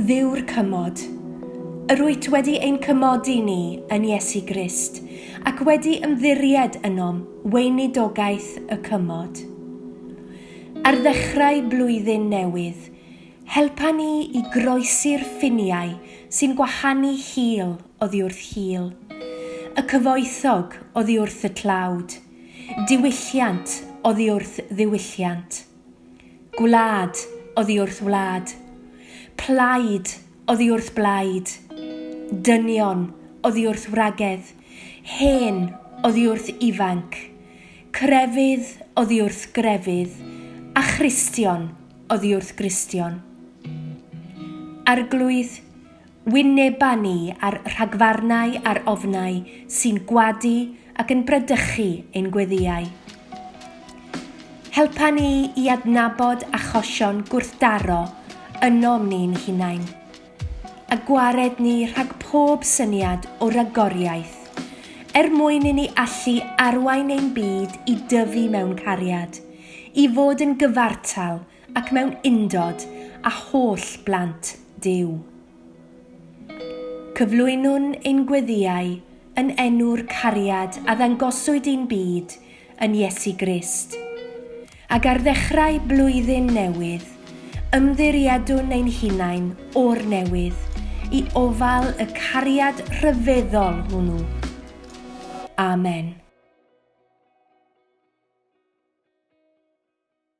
Dduw'r cymod. Yr wyt wedi ein cymodi ni yn Iesu Grist, ac wedi ymddiried ynom weinidogaeth y cymod. Ar ddechrau blwyddyn newydd, helpa ni i groesi'r ffiniau sy'n gwahanu hil oddi wrth hil, y cyfoethog oddi wrth y tlawd, Diwylliant oddi wrth ddiwylliant. Gwlad oddi wrth wlad. Plaid oddi wrth blaid. Dynion oddi wrth wragedd. Hen oddi wrth ifanc. Crefydd oddi wrth grefydd. A Christion oddi wrth Gristion. Arglwydd wyneban ni a'r rhagfarnau a'r ofnau sy'n gwadu ac yn bradychu ein gweddïau. Helpa ni i adnabod achosion gwrthdaro ynom ni'n hunain, a gwared ni rhag pob syniad o ragoriaeth, er mwyn i ni allu arwain ein byd i dyfu mewn cariad, i fod yn gyfartal Ac mewn undod â holl blant Duw. Cyflwynwn ein gweddïau yn enw'r cariad a ddangoswyd i'n byd yn Iesu Grist. Ac ar ddechrau blwyddyn newydd, ymddiriedwn ein hunain o'r newydd i ofal y cariad rhyfeddol hwnnw. Amen.